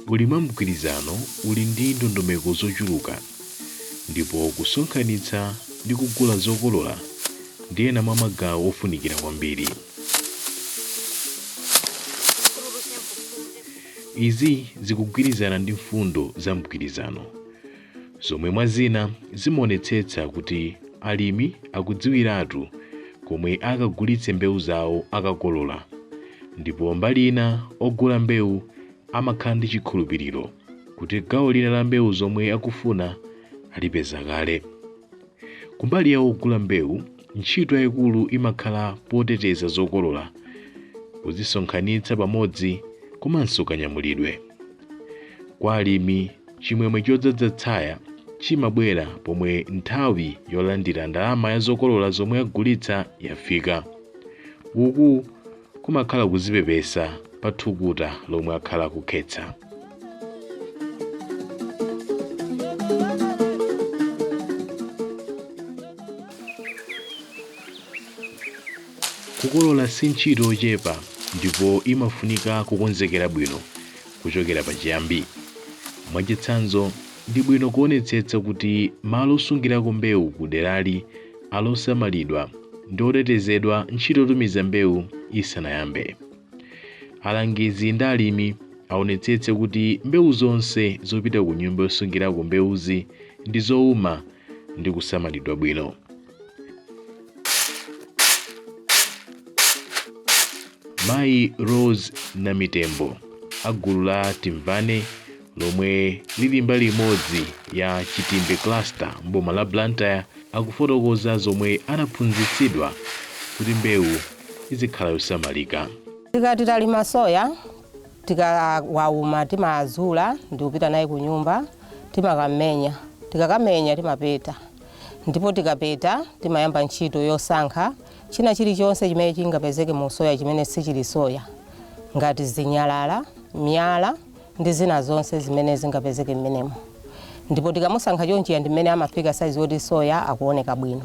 Ulimi wa mgwirizano uli ndi ndondomeko zochuluka ndipo kusonkhanitsa ndi kugula zokolola ndi ena mwa magawo ofunikira kwambiri. Izi zikugwirizana ndi mfundo za mgwirizano zomwe mwa zina zimaonetsetsa kuti alimi akudziwiratu komwe akagulitse mbewu zawo akakolola ndipo mbali ina ogula mbewu amakhala ndi chikhulupiriro kuti gawo lina la mbewu zomwe akufuna alipeza kale. Kumbali ya ogula mbewu, ntchito yayikulu imakhala poteteza zokolola, kuzisonkhanitsa pamodzi komanso kanyamulidwe. Kwa alimi, chimwemwe chodzadza tsaya chimabwera pomwe nthawi yolandira ndalama ya zokolola zomwe agulitsa yafika. Uku kumakhala kudzipepesa pa thukuta lomwe akhala akukhetsa kukolola si ntchito yochepa ndipo imafunika kukonzekera bwino kuchokera pachiyambi mwachitsanzo ndi bwino kuonetsetsa kuti malo osungirako mbewu ku derali ali osamalidwa ndi otetezedwa ntchito yotumiza mbewu isanayambe. Alangizi ndi alimi aonetsetse kuti mbewu zonse zopita ku nyumba yosungirako mbewuzi ndi zouma ndi kusamalidwa bwino. Mayi Rose Namitembo a gulu la Timvane lomwe lili mbali imodzi ya Chitimbe cluster m'boma la Blantyre akufotokoza zomwe anaphunzitsidwa kuti mbewu izikhala yosamalika. Tikati talima soya akauma timazula ndikupita naye kunyumba timakamenya tikakamenya timapeta ndipo tikapeta timayamba ntchito yosankha china chilichonse chimene chingapezeke mu soya chimene sichili soya ngati zinyalala, miyala ndi zina zonse zimene zingapezeke mmenemo ndipo tikamusankha chonchiya ndi mmene amafika saizi yoti soya akuoneka bwino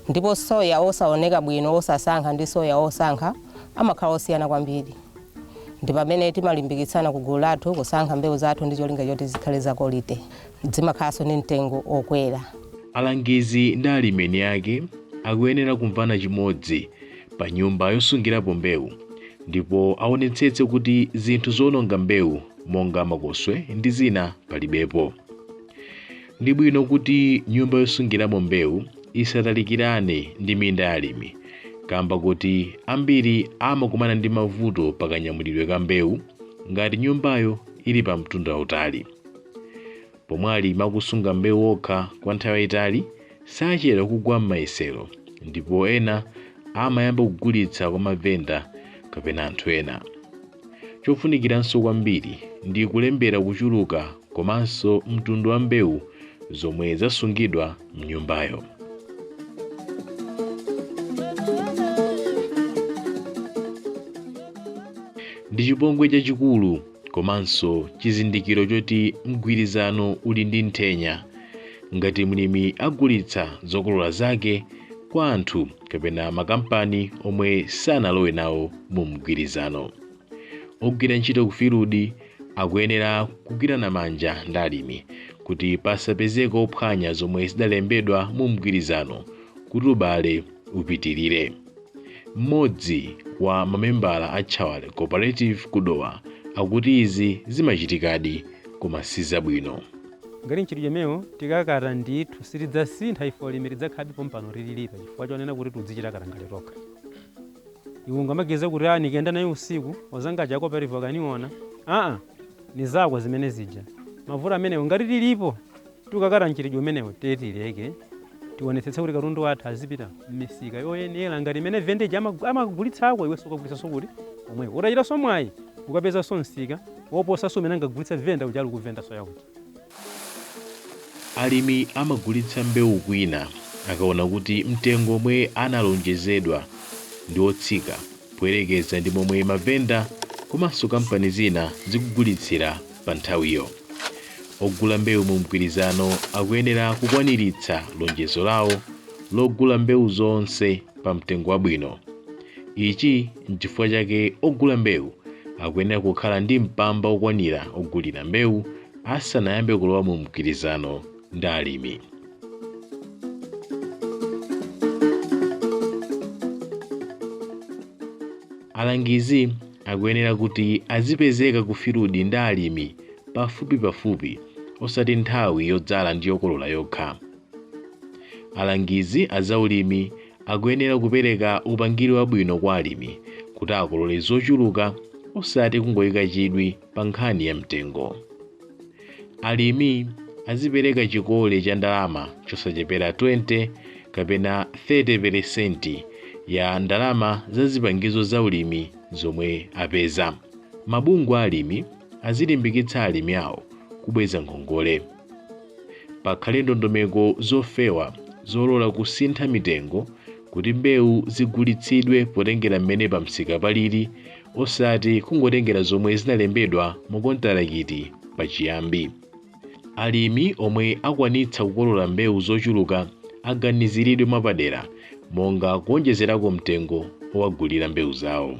ndipo soya osaoneka bwino osasankha ndi soya osankha amakhala osiyana kwambiri ndi pamene timalimbikitsana ku gulu lathu kusankha mbewu zathu ndi cholinga choti zikhale za quality zimakhalanso ndi mtengo okwera Alangizi ndi alimi eni ake akuyenera kumvana chimodzi pa nyumba yosungirapo mbewu ndipo aonetsetse kuti zinthu zowononga mbewu monga makoswe ndi zina palibepo. Ndi bwino kuti nyumba yosungiramo mbewu isatalikirane ndi minda ya alimi kamba kakuti ambiri amakumana ndi mavuto pa kanyamulidwe ka mbewu ngati nyumbayo ili pa mtunda wautali. Pomwe alimi akusunga mbewu okha kwa nthawi yaitali, sachedwa kugwa m'mayesero ndipo ena amayamba kugulitsa kwa mavenda kapena anthu ena. Chofunikiranso kwambiri ndi kulembera kuchuluka komanso mtundu wa mbewu zomwe zasungidwa m'nyumbayo. Ndi chipongwe chachikulu komanso chizindikiro choti mgwirizano uli ndi nthenya ngati mlimi agulitsa zokolola zake kwa anthu kapena makampani omwe sanalowe nawo mu mgwirizano ogwira ntchito ku filudi akuyenera kugwirana manja ndi alimi kuti pasapezeke ophwanya zomwe zidalembedwa mu mgwirizano kuti ubale upitirire Mmodzi wa mamembala a Chawale Cooperative ku Dowa akuti izi zimachitikadi koma si zabwino. Ngati mchitidwe umenewu tikakata ndithu sitidzasintha ife olimi tidzakhalabe pompano tililipa chifukwa chonena kuti tudzichita katangale tokha. Iwe ungamagize kuti aa nikenda naye usiku wazanga aja cooperative wakaniona aa nizako zimene zija mavuto amenewo ngati tilipo Tukakata mchitidwe umenewu tiye tileke. Tionetsetse kuti katundu wathu azipita m'misika yoyenera ngati imene vendor uja amakagulitsako iwenso ukagulitsanso kuti? Komweko. Utachitanso mwayi ukapezanso msika woposanso umene ankagulitsa vendor uja ali kuvenda soya kuja. Alimi amagulitsa mbewu kwina akaona kuti mtengo omwe analonjezedwa ndi otsika. poyerekeza ndi momwe mavenda komanso kampani zina zikugulitsira pa nthawiyo. Ogula mbewu mu mgwirizano akuyenera kukwaniritsa lonjezo lawo logula mbewu zonse pa mtengo wabwino. Ichi n'chifukwa chake ogula mbewu akuyenera kukhala ndi mpamba okwanira ogulira mbewu asanayambe kulowa mu mgwirizano. ndi alimi. Alangizi akuyenera kuti azipezeka ku filudi ndi alimi pafupipafupi osati nthawi yodzala ndi yokolola yokha. Alangizi a zaulimi akuyenera kupereka upangiri wabwino kwa alimi kuti akolole zochuluka osati kungoika chidwi pa nkhani ya mtengo. Alimi azipereka chikole cha ndalama chosachepera 20 kapena 30 peresenti ya ndalama za zipangizo za ulimi zomwe apeza. Mabungwe a alimi azilimbikitsa alimi awo kubweza ngongole. Pakhale ndondomeko zofewa zolola kusintha mitengo kuti mbewu zigulitsidwe potengera mmene pamsika palili osati kungotengera zomwe zinalembedwa mu kontarakiti pachiyambi. Alimi omwe akwanitsa kukolola mbewu zochuluka aganiziridwe mwapadera monga kuonjezerako mtengo owagulira mbewu zawo.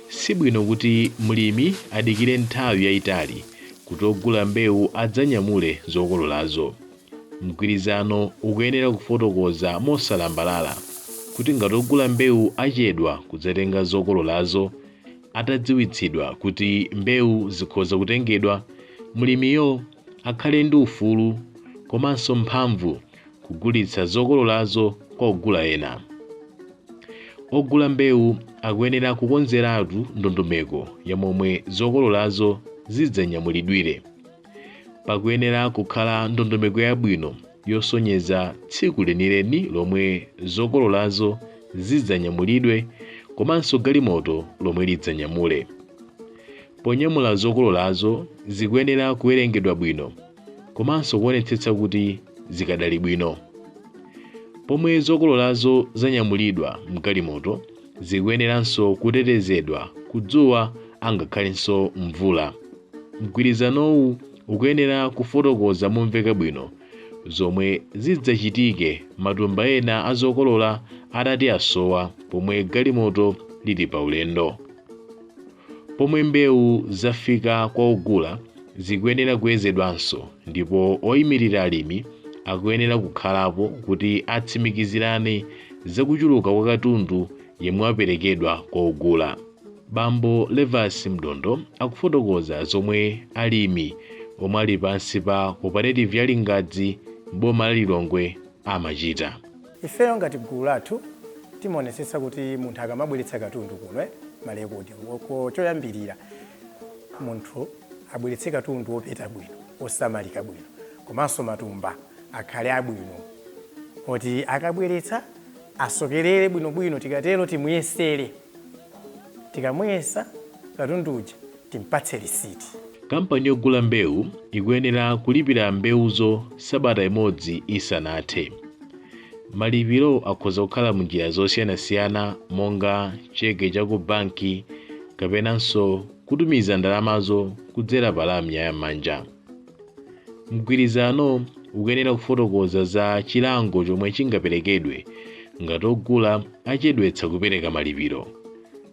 Sibwino kuti mlimi adikire nthawi yayitali kuti ogula mbewu adzanyamule zokololazo. Mgwirizano ukuyenera kufotokoza mosalambalala kuti ngati ogula mbewu achedwa kudzatenga zokololazo atadziwitsidwa kuti mbewu zikhoza kutengedwa, mlimiyo akhale ndi ufulu komanso mphamvu kugulitsa zokololazo kwa ogula ena. Ogula mbewu akuyenera kukonzeratu ndondomeko ya momwe zokololazo zidzanyamulidwire. Pakuyenera kukhala ndondomeko yabwino yosonyeza tsiku lenileni lomwe zokololazo zidzanyamulidwe komanso galimoto lomwe lidzanyamule. Ponyamula zokololazo zikuyenera kuwerengedwa bwino komanso kuonetsetsa kuti zikadali bwino. Pomwe zokololazo zanyamulidwa m'galimoto, Zikuyeneranso kutetezedwa ku dzuwa angakhalenso mvula. Mgwirizanowu ukuyenera kufotokoza momveka bwino zomwe zidzachitike matumba ena a zokolola atati asowa pomwe galimoto lili paulendo. Pomwe mbewu zafika kwa ogula, zikuyenera kuyezedwanso ndipo oyimirira alimi akuyenera kukhalapo kuti atsimikizirane za kuchuluka kwa katundu yemwe waperekedwa kwa ogula. Bambo Levas Mdondo akufotokoza zomwe alimi omwe ali pansi pa Cooperative ya Lingadzi m'boma la Lilongwe amachita. Ifeyo ngati gulu lathu timaonetsetsa kuti munthu akamabweretsa katundu kuno, malekodi, choyambirira munthu abweretse katundu wopeta bwino, wosamalika bwino komanso matumba akhale abwino oti akabweretsa asokerere bwinobwino. Tikatero timuyesere. Tikamuyesa katundu uja timpatse lisiti. Kampani yogula mbewu ikuyenera kulipira mbewuzo sabata imodzi isanathe. Malipiro akhoza kukhala m'njira zosiyanasiyana monga cheke cha ku banki kapenanso kutumiza ndalamazo kudzera pa lamya ya m'manja. Mgwirizano ukuyenera kufotokoza za chilango chomwe chingaperekedwe ngati ogula achedwetsa kupereka malipiro.